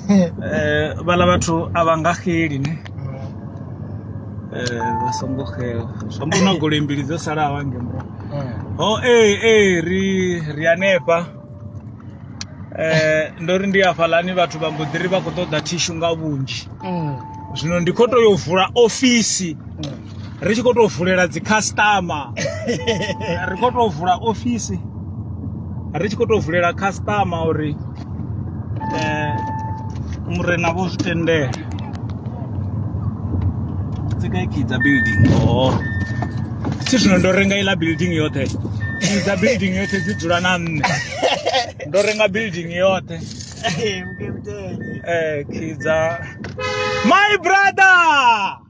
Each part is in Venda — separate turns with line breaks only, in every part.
Eh, vhala vhathu a vha nga xeli ne eh, vha songo xela zwo mbo na goloi mbili dzo salaho ange mura ho ee ee ri ri hanefha eh, ndo ri ndi afhalani vhathu vha mbo ḓi ri vha khou ṱoḓa thishu nga vhunzhi zwino ndi khou tou yo vula ofisi ri tshi khou tou vulela dzi customer ri khou tou vula ofisi ri tshi khou tou vulela customer uri eh murena vho zwi tendela dzi kha kidza building oh si zwino ndo renga iḽa building yoṱhe kidza building yoṱhe dzi dzula na nṋe ndo renga building yoṱhe eh kidza my brother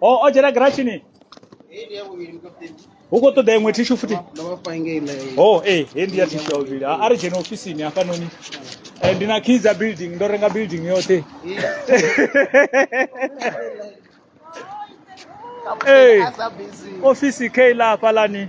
o o dzhena girashini hu khou ṱoḓa iṅwe thishu futhi o e he ndi ya thishu ya vhuvhili a ri dzhene ofisini hafhanoni Eh, ndi na key dza building ndo renga building yoṱhe Hey. ofisi kei la hafhalani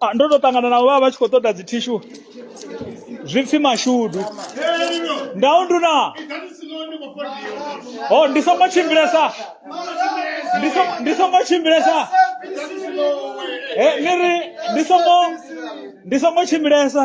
Ah, ndo to ṱangana navho vha vha tshi khou ṱoḓa dzi thishu zwi pfhi mashudu ndau nduna ho ndi songo tshimbilesa ndi so- ndi songo tshimbilesa he ni ri ndi songo ndi songo tshimbilesa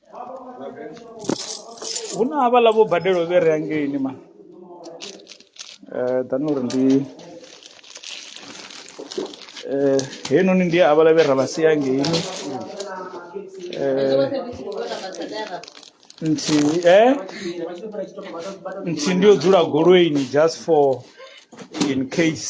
hu na havhaḽa vho badelo vhe re angeini ma um ḓani uri ndi um heinoni ndi havhaḽa vhe ra vha sia angeini um nthihi e nthihi ndi yo dzula goloini just for in case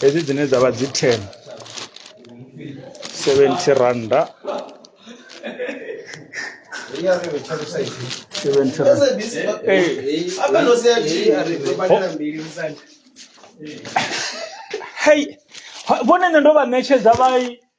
hedzi dzine dza vha dzi ten seventy randa seventy randa hei vhone nṋe ndo vha ṋetshedza vha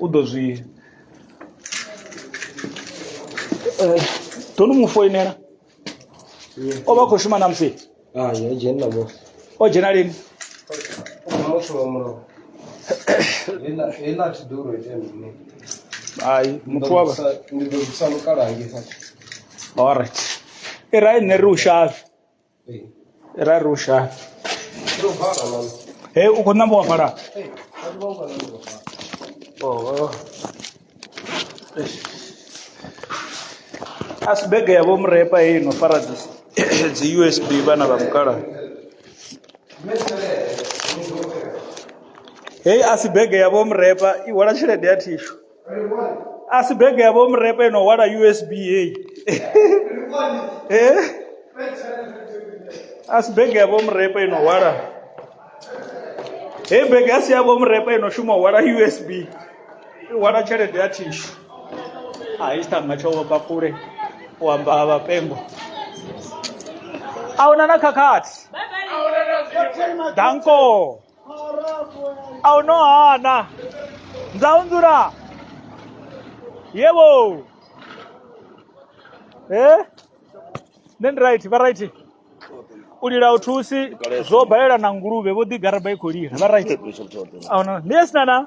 u ḓo zwi eh, ḓo ni mu foinela o vha khou shuma namusi ah, o
dzhena lini hai
muthu wa vha
alright
i rai nṋe ri u shavhe ra rusha
he u khou namba wa
fhala Oh. a si bege ya vho murepa heyi no fara dzi- dzi usb vhana vha mukala heyi a si bege ya vho murepa i hwala tshelede ya thishu a si bege ya vho mrepe no hwala usb heyi Eh? a si bege ya vho mrepe ino hwala heyi bege a si ya vho mrepe ino shuma u hwala usb i hwala tshelede ya thishu a i tshitanga tsho vhofha kule u amba ha vhapengo a huna na khakhathi danko aw no a na nzaunzura yebo eh then right vha right u lila u thusi zwo balela na nguluvhe vho ḓi garaba i khou lila vha right a no ndi yes nana